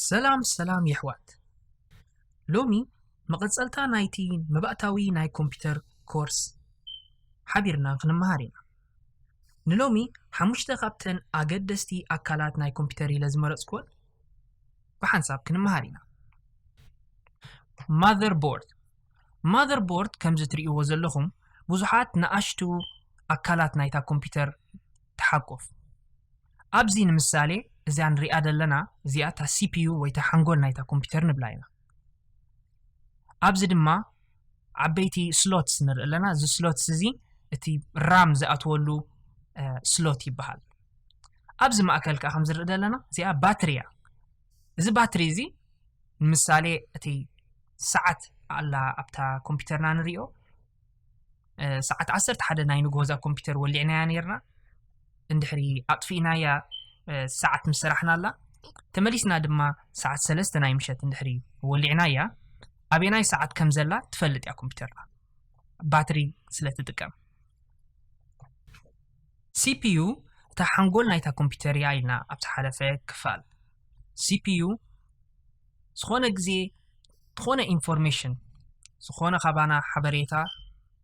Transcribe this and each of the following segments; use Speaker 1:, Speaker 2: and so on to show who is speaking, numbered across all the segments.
Speaker 1: ሰላም ሰላም የሕዋት ሎሚ መቐጸልታ ናይቲ መባእታዊ ናይ ኮምፒተር ኮርስ ሓቢርና ክንመሃር ኢና ንሎሚ ሓሙሽተ ካብተን ኣገደስቲ ኣካላት ናይ ኮምፒተር ኢለ ዝመረጽኩወን ብሓንሳብ ክንመሃር ኢና ማዘር ቦርድ ማዘር ቦርድ ከምዚ ትርእይዎ ዘለኹም ብዙሓት ንኣሽቱ ኣካላት ናይታ ኮምፒተር ተሓቁፍ። ኣብዚ ንምሳሌ እዚኣ ንሪኣ ዘለና እዚኣ እታ ሲፒዩ ወይ እታ ሓንጎል ናይታ ኮምፒተር ንብላ ኢና። ኣብዚ ድማ ዓበይቲ ስሎትስ ንርኢ ኣለና። እዚ ስሎትስ እዚ እቲ ራም ዝኣትወሉ ስሎት ይበሃል። ኣብዚ ማእከል ከዓ ከምዝርኢ ዘለና እዚኣ ባትሪ እያ። እዚ ባትሪ እዚ ንምሳሌ እቲ ሰዓት ኣላ ኣብታ ኮምፒተርና ንሪኦ ሰዓት ዓሰርተ ሓደ ናይ ንግሆ እዛ ኮምፒተር ወሊዕናያ ነርና እንድሕሪ ኣጥፊእናያ ሰዓት ምስ ሰራሕና ኣላ ተመሊስና ድማ ሰዓት ሰለስተ ናይ ምሸት እንድሕሪ ወሊዕናያ ኣበናይ ሰዓት ከም ዘላ ትፈልጥ እያ ኮምፒተርና ባትሪ ስለ ትጥቀም ሲፒዩ እታ ሓንጎል ናይታ ኮምፒተር እያ ኢልና ኣብ ዝሓለፈ ክፋል ሲፒዩ ዝኾነ ግዜ ዝኾነ ኢንፎርሜሽን ዝኾነ ካባና ሓበሬታ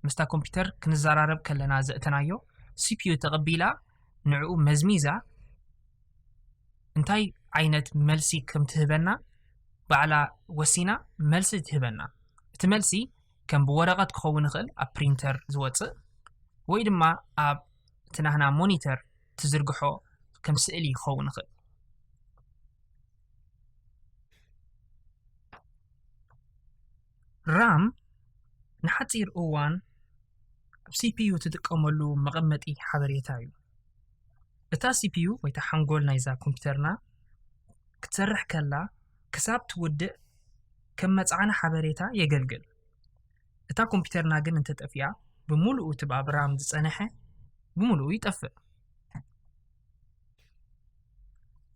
Speaker 1: ምስታ ኮምፒተር ክንዘራረብ ከለና ዘእተናዮ ሲፒዩ ተቐቢላ ንዕኡ መዝሚዛ እንታይ ዓይነት መልሲ ከም ትህበና ባዕላ ወሲና መልሲ ትህበና እቲ መልሲ ከም ብወረቐት ክኸውን ይኽእል ኣብ ፕሪንተር ዝወፅእ ወይ ድማ ኣብ እቲ ናህና ሞኒተር ትዝርግሖ ከም ስእሊ ክኸውን ይኽእል ራም ንሓፂር እዋን ኣብ ሲፒዩ ትጥቀመሉ መቐመጢ ሓበሬታ እዩ። እታ ሲፒዩ ወይ እታ ሓንጎል ናይዛ ኮምፒተርና ክትሰርሕ ከላ ክሳብ ትውድእ ከም መፅዓኒ ሓበሬታ የገልግል። እታ ኮምፒተርና ግን እንተጠፊኣ ብምሉኡ እቲ ኣብ ራም ዝፀንሐ ብምሉኡ ይጠፍእ።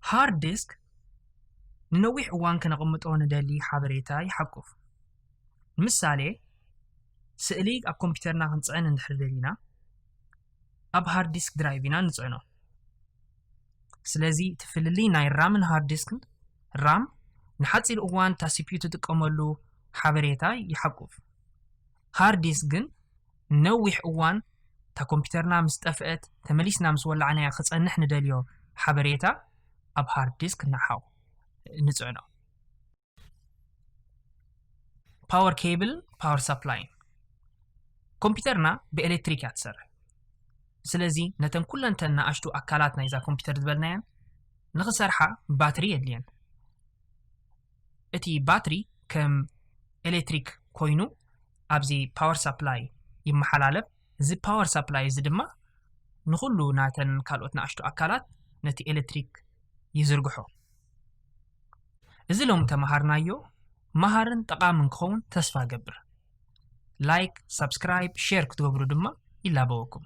Speaker 1: ሃርድ ዲስክ ንነዊሕ እዋን ከነቕምጦ ንደሊ ሓበሬታ ይሓቁፍ። ንምሳሌ ስእሊ ኣብ ኮምፒተርና ክንፅዕን እንድሕር ደሊና ኣብ ሃርድ ዲስክ ድራይቭ ኢና ንፅዕኖ። ስለዚ እቲ ፍልልይ ናይ ራምን ሃርድ ዲስክን ራም ንሓፂር እዋን እታ ሲፒዩ ትጥቀመሉ ሓበሬታ ይሓቁፍ። ሃርድ ዲስክ ግን ንነዊሕ እዋን እታ ኮምፒተርና ምስ ጠፍአት ተመሊስና ምስ ወላዕናዮ ክጸንሕ ንደልዮ ሓበሬታ ኣብ ሃርድ ዲስክ ንሓው ንጽዕኖ። ፓወር ኬብልን ፓወር ሳፕላይን ኮምፒተርና ብኤሌክትሪክ እያ ትሰርሕ። ስለዚ ነተን ኩለን ተን ንኣሽቱ ኣካላት ናይዛ ኮምፒተር ዝበልናየን ንኽሰርሓ ባትሪ የድልየን። እቲ ባትሪ ከም ኤሌክትሪክ ኮይኑ ኣብዚ ፓወር ሳፕላይ ይመሓላለፍ። እዚ ፓወር ሳፕላይ እዚ ድማ ንኹሉ ናተን ካልኦት ንኣሽቱ ኣካላት ነቲ ኤሌክትሪክ ይዝርግሖ። እዚ ሎሚ ተመሃርናዮ መሃርን ጠቓምን ክኸውን ተስፋ እገብር። ላይክ፣ ሳብስክራይብ፣ ሼር ክትገብሩ ድማ ይላበወኩም።